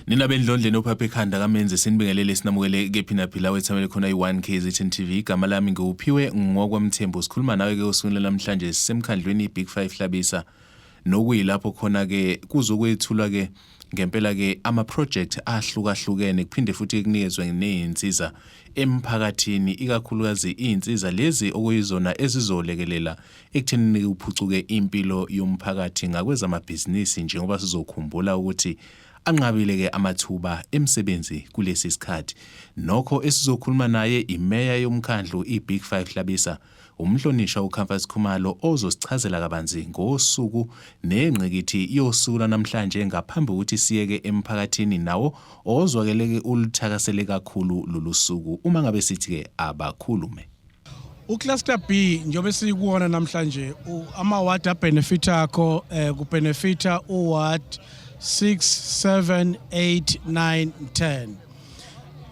nina bendlondleni ophapha ekhanda kamenze sinibingelele sinamukele kephi naphila wethamele khona i-1 kzn tv igama lami ngiwuphiwe ngokwamthembu sikhuluma nawe-ke osukwini lanamhlanje sisemkhandlwini i-big five hlabisa Nokuyilapho khona ke kuzokwethulwa ke ngempela ke ama project ahlukahlukene kuphinde futhi kunikezwe nezinsiza emphakathini ikakhulukazi izinsiza lezi okuyizona ezizolekelela ekuthenini kuphucuke impilo yomphakathi ngakwezamabhizinisi njengoba sizokhumbula ukuthi anqabile ke amathuba emsebenzi kulesi sikhathi nokho esizokhuluma naye imeya yomkhandlu iBig 5 Hlabisa Umhlonishwa uComfort Khumalo ozosichazela kabanzi ngosuku nengqikithi yosuku lwanamhlanje ngaphambi kokuthi siyeke emphakathini nawo ozwakeleke uluthakasele kakhulu lolu suku uma ngabe sithi-ke abakhulume ucluster b njengoba esikuwona namhlanje amawadi abhenefitha akho um eh, kubhenefitha uward 6 7 8 9 10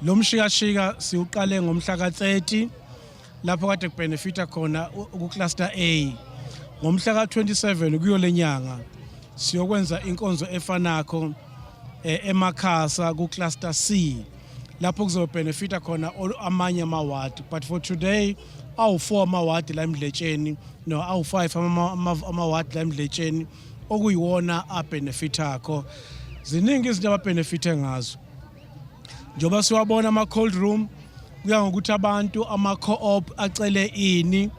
lo mshikashika siwuqale ngomhla ka-30 lapho kade kubenefita khona kucluster A ngomhla ka-27 kuyole nyanga siyokwenza inkonzo efanakho eh, emakhasa kucluster C lapho kuzobhenefita khona amanye amawadi but for today awu-4 amawadi la emdletsheni no awu-5 amawadi la emdletsheni okuyiwona abhenefithakho ziningi izinto ababhenefithe ngazo njengoba siwabona ama-cold room kuya ngokuthi abantu ama-co-op acele ini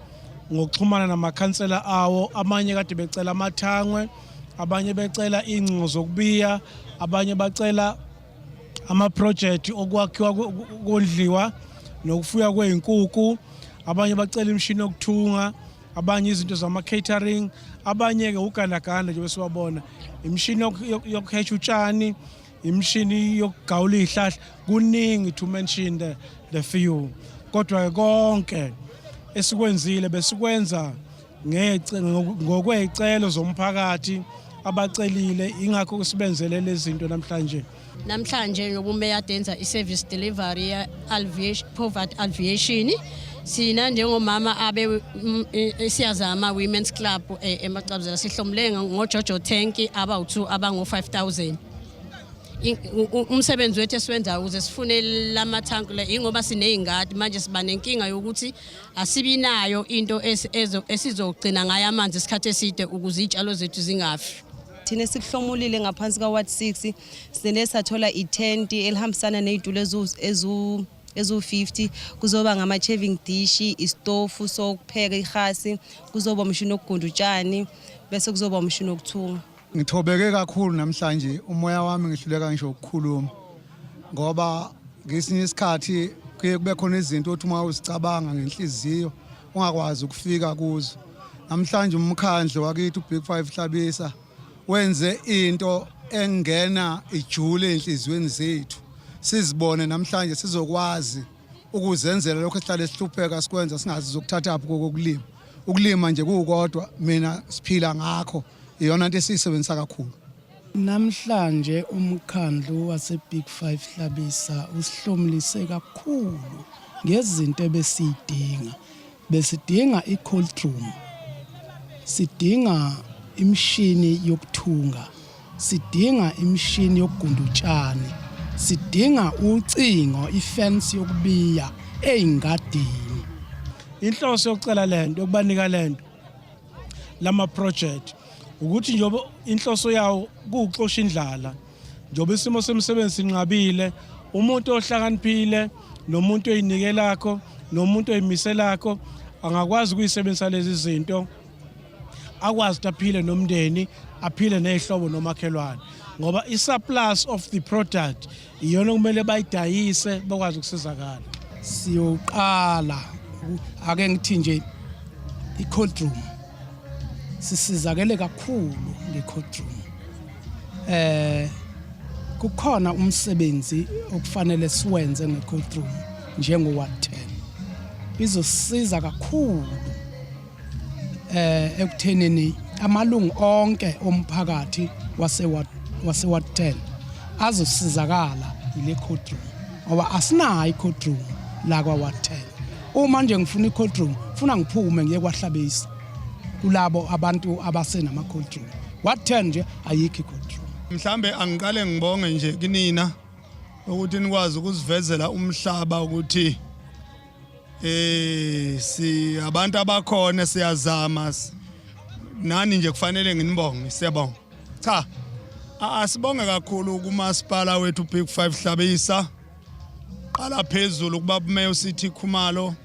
ngokuxhumana namakhansela awo amanye kade becela amathangwe abanye becela iy'ngcingo zokubiya abanye bacela amaprojekthi okwakhiwa kondliwa nokufuya kwey'nkuku abanye bacela imishini yokuthunga abanye izinto zama-catering abanye-ke ugandaganda njengoba siwabona imishini yokuhesha utshani imshini yokugawula izihlahla kuningi to mention the, the few kodwa konke esikwenzile besikwenza ngokweyicelo zomphakathi abacelile ingakho sibenzele lezi zinto namhlanje namhlanje nobumeya denza i-service delivery Alviation Poverty Alviation sina njengomama abe mm, eh, eh, siyazama women's club eh, emacabuzela sihlomule ngojojo tank abawu-2 abango-5000 umsebenzi wethu esiwenzayo ukuze sifune lamathanki le ingoba siney'ngadi manje siba nenkinga yokuthi asibi nayo into esizogcina ngayo amanzi isikhathi eside ukuze iy'tshalo zethu zingafi thina sikuhlomulile ngaphansi ka-ward 6 Sine sathola itenti elihambisana nezitulo ezu ezu-50 kuzoba ngama-chaving dish isitofu sokupheka ihasi kuzoba umshini wokugunda utshani bese kuzoba umshini wokuthunga ngithobeke kakhulu namhlanje umoya wami ngihluleka ngisho ukukhuluma ngoba ngesinye isikhathi kuye kube khona izinto othi uma uzicabanga ngenhliziyo ungakwazi ukufika kuzo namhlanje umkhandlu wakithi ubig five hlabisa wenze into engena ijule enhliziyweni zethu sizibone namhlanje sizokwazi ukuzenzela lokho esihlale sihlupheka sikwenza singazi zokuthathaphi kokulima ukulima nje kukodwa mina siphila ngakho iyona into esiyisebenzisa kakhulu namhlanje umkhandlu waseBig 5 Hlabisa usihlomlise kakhulu ngezinto ebesidinga Besidinga i-cold room, sidinga imishini yokuthunga, sidinga imishini yokugunda utshani, sidinga ucingo, ifensi yokubiya ey'ngadini. Inhloso yokucela le nto, yokubanika le nto, lama-project ukuthi njengoba inhloso yawo kuwuxosha indlala njengoba isimo semsebenzi sinqabile umuntu ohlakaniphile nomuntu oyinike lakho nomuntu oyimise lakho angakwazi ukuyisebenzisa lezi zinto akwazi ukuthi aphile nomndeni aphile nezihlobo nomakhelwane ngoba i-surplus of the product iyona okumele bayidayise bakwazi ukusizakala siyoqala ake ngithi nje i-cold room sisizakele kakhulu ngecourtroom eh kukhona umsebenzi okufanele siwenze ngecourtroom njengo-ward 10 izosiza kakhulu eh ekuthenini amalungu onke omphakathi wase-ward wase-ward 10 azosizakala yile courtroom ngoba asinayo i-courtroom la kwa-ward 10 Uma nje ngifuna i-cold room, funa ngiphume ngiye kwahlabisa kulabo abantu abasenama-cold room. What turn nje ayikho i-cold room. Mhlambe angiqale ngibonge nje kunina ukuthi nikwazi ukusivezela umhlaba ukuthi eh si abantu abakhona siyazama nani nje kufanele nginibonge siyabonga cha asibonge kakhulu kumasipala wethu Big 5 Hlabisa qala phezulu kuba bumeyo sithi khumalo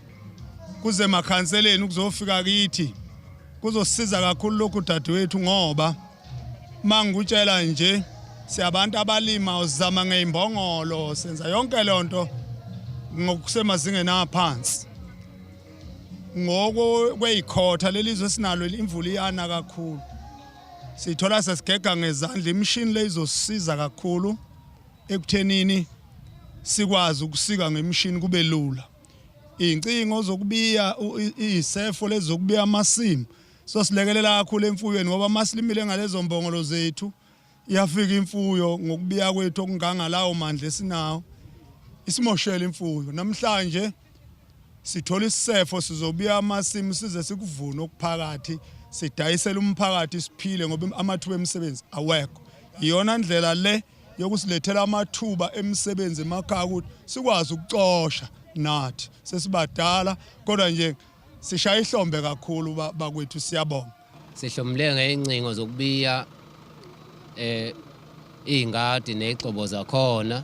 kuze makhanseleni kuzofika kithi kuzosiza kakhulu lokhu dadewethu ngoba mangikutshela nje siyabantu abalima uzama ngeimbongolo senza yonke lonto ngokusemazingeni aphansi ngoko kweyikhotha lelizwe sinalo imvula iyana kakhulu sithola sesigega ngezandla imishini leyizosiza kakhulu ekuthenini sikwazi ukusika ngemishini kube lula iy'ncingo zokubiya iy'sefo lezi zokubiya amasimu so silekelela kakhulu emfuyweni ngoba uma silimile ngalezo mbongolo zethu iyafika imfuyo ngokubiya kwethu okungangalawo mandla esinawo isimoshela imfuyo namhlanje sithola isisefo sizobuya amasimu size sikuvune okuphakathi sidayisele umphakathi siphile ngoba amathuba emisebenzi awekho iyona ndlela le yokusilethela amathuba emisebenzi emakhaya ukuthi sikwazi ukucosha nathi sesibadala kodwa nje sishaya ihlombe kakhulu bakwethu siyabonga sihlomule ngey'ncingo zokubiya eh iy'ngadi ney'gxobo zakhona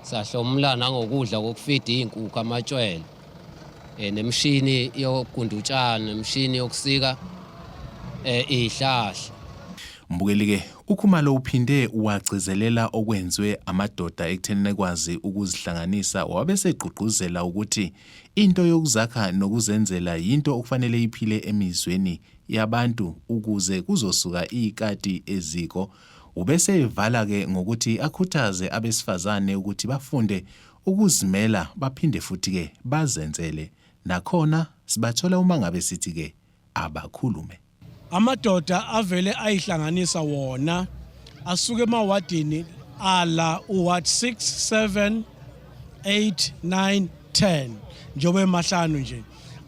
sahlomula nangokudla kokufida iy'nkukhu amatshwele eh nemshini yokugunda utshani nemshini yokusika eh ihlahla umbukeli ke UKhumalo uphinde wagcizelela okwenziwe amadoda ekutheni ekwazi ukuzihlanganisa wabesegqugquzela ukuthi into yokuzakha nokuzenzela yinto okufanele iphile emizweni yabantu ukuze kuzosuka ikati eziko ubese evala ke ngokuthi akhuthaze abesifazane ukuthi bafunde ukuzimela baphinde futhi ke bazenzele nakhona sibathola uma ngabe sithi ke abakhulume Amadoda avele ayihlanganisa wona asuke emawadini ala uward 6 7 8 9 10 njengoba emahlanu nje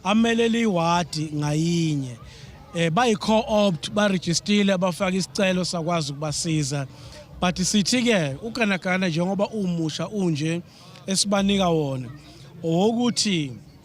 amelele iwadi ngayinye eh bayi-co-opt barejistile abafaka isicelo sakwazi ukubasiza but sithi-ke uganagana njengoba umusha unje esibanika wona owokuthi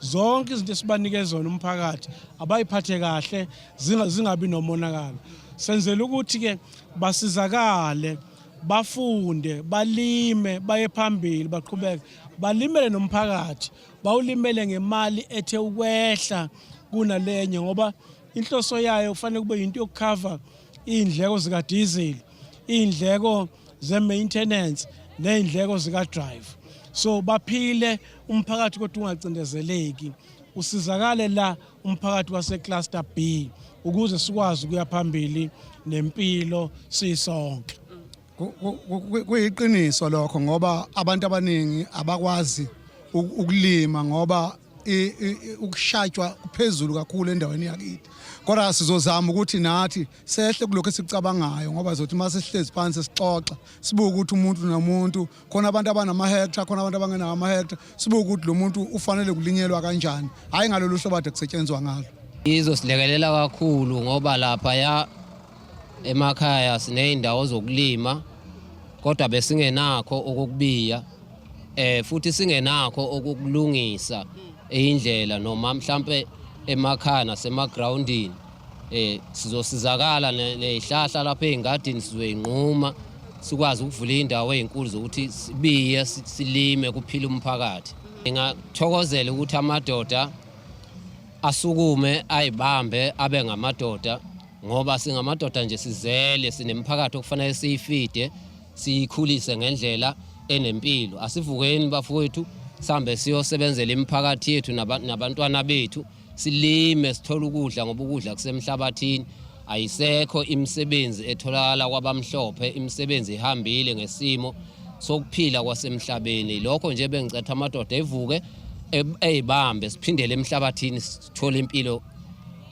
zonke izinto esibanike zona umphakathi abayiphathe kahle zingabi nomonakalo senzela ukuthi-ke basizakale bafunde balime baye phambili baqhubeke balimele nomphakathi bawulimele ngemali ethe ukwehla kunalenye ngoba inhloso yayo kufanele kube yinto yokukhava iy'ndleko zikadizili iy'ndleko ze-maintenance ney'ndleko zika-drive so baphile umphakathi kodwa ungacindezeleki usizakale la umphakathi wasecluster b ukuze sikwazi ukuya phambili nempilo sisonke kuyiqiniso lokho ngoba abantu abaningi abakwazi ukulima ngoba ukushatshwa kuphezulu kakhulu endaweni yakithi kodwa sizozama ukuthi nathi sehle kulokho esikucabangayo ngoba zothi uma sihlezi phansi sixoxa sibuke ukuthi umuntu nomuntu khona abantu abanamahektra khona abantu abangenawo amahektra sibuke ukuthi lo muntu ufanele kulinyelwa kanjani hhayi ngalolu hlobo ade kusetshenzwa ngalo izosilekelela kakhulu ngoba lapha ya emakhaya siney'ndawo zokulima kodwa besingenakho okukubiya eh futhi singenakho okukulungisa indlela noma mhlambe emakhaya nasemagrawundini Eh sizosizakala nezihlahla lapha ezingadini sizoyinquma sikwazi ukuvula indawo ezinkulu zokuthi sibiye silime kuphila umphakathi. Ngingakuthokozela ukuthi amadoda asukume ayibambe abe ngamadoda ngoba singamadoda nje sizele sinemphakathi okufanele siyifide siyikhulise ngendlela enempilo asivukeni bafowethu sambe siyosebenzela imiphakathi yethu nabantwana bethu silime sithola ukudla ngoba ukudla kusemhlabathini ayisekho imisebenzi etholakala kwabamhlophe imisebenzi ihambile ngesimo sokuphila kwasemhlabeni lokho nje bengicetha amadoda evuke eyibambe siphindele emhlabathini sithole impilo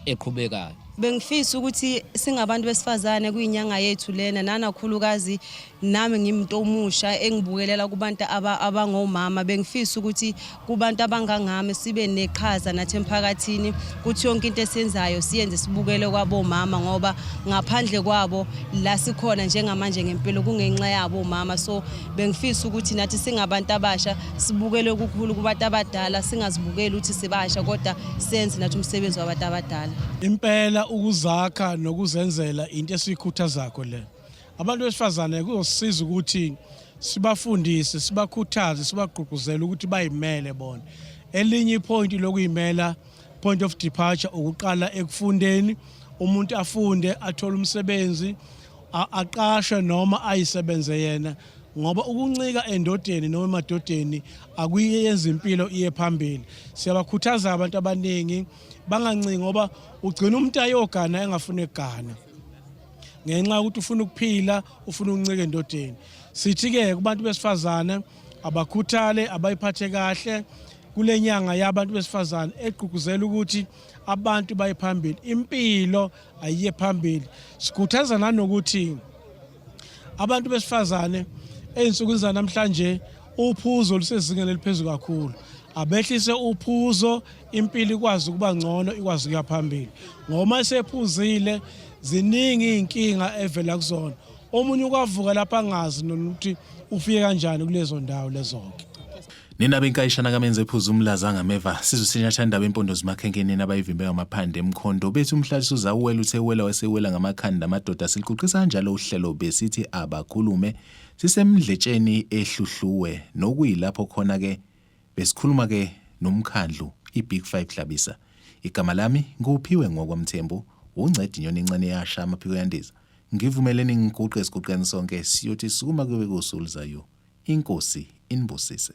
eqhubekayo bengifisa ukuthi singabantu besifazane kuyinyanga yethu lena nanakhulukazi nami ngimuntu omusha engibukelela kubantu abangomama bengifisa ukuthi kubantu abangangami sibe neqhaza nathi emphakathini kuthi yonke into esiyenzayo siyenze sibukele kwabomama ngoba ngaphandle kwabo la sikhona njengamanje ngempilo kungenxa yabo omama so bengifisa ukuthi nathi singabantu abasha sibukele okukhulu kubantu abadala singazibukeli ukuthi sibasha kodwa senze nathi umsebenzi wabantu abadala impela ukuzakha nokuzenzela into esiyikhuthazakho le Abantu besifazane kuyosiza ukuthi sibafundise, sibakhuthaze, sibagqugquzele ukuthi bayimele bona. Elinye ipointi lokuyimela point of departure ukuqala ekufundeni, umuntu afunde, athole umsebenzi, aqashwe noma ayisebenze yena ngoba ukuncika endodeni noma emadodeni akuyenza impilo iye phambili siyabakhuthaza abantu abaningi bangancingi ngoba ugcina umuntu ayogana engafuni egana ngenxa yokuthi ufuna ukuphila ufuna ukuncika endodeni sithi-ke kubantu besifazane abakhuthale abayiphathe kahle kule nyanga yabantu besifazane egqugquzela ukuthi abantu baye phambili impilo ayiye phambili sikhuthaza nanokuthi abantu besifazane ey'nsukwini zanamhlanje uphuzo olusezingeni eliphezulu kakhulu abehlise uphuzo impilo ikwazi ukuba ngcono ikwazi ukuya phambili ngoma esephuzile ziningi izinkinga evela kuzona omunye ukwavuka lapha angazi nokuthi ufike kanjani kulezo ndawo lezonke Nina benkayishana kamenze ephuza umlaza ngameva sizwe sinyathanda indaba empondo zimakhenkeneni abayivimbe ngamaphande emkhondo bethi umhlalisi uzawuwela uthe wela wesewela ngamakhanda amadoda siluquqisa kanjalo uhlelo besithi abakhulume sisemdletsheni ehluhluwe nokuyilapho khona ke Besikhuluma ke nomkhandlu iBig Five Hlabisa. Igama lami nguPhiwe Ngokwa Mthembu, wungcedi nyoni encane eyasha amaphiko yandiza. Ngivumeleni ngiguqe esiguqeni sonke siyothi sukuma kube kusu oluzayo. Inkosi inibusise.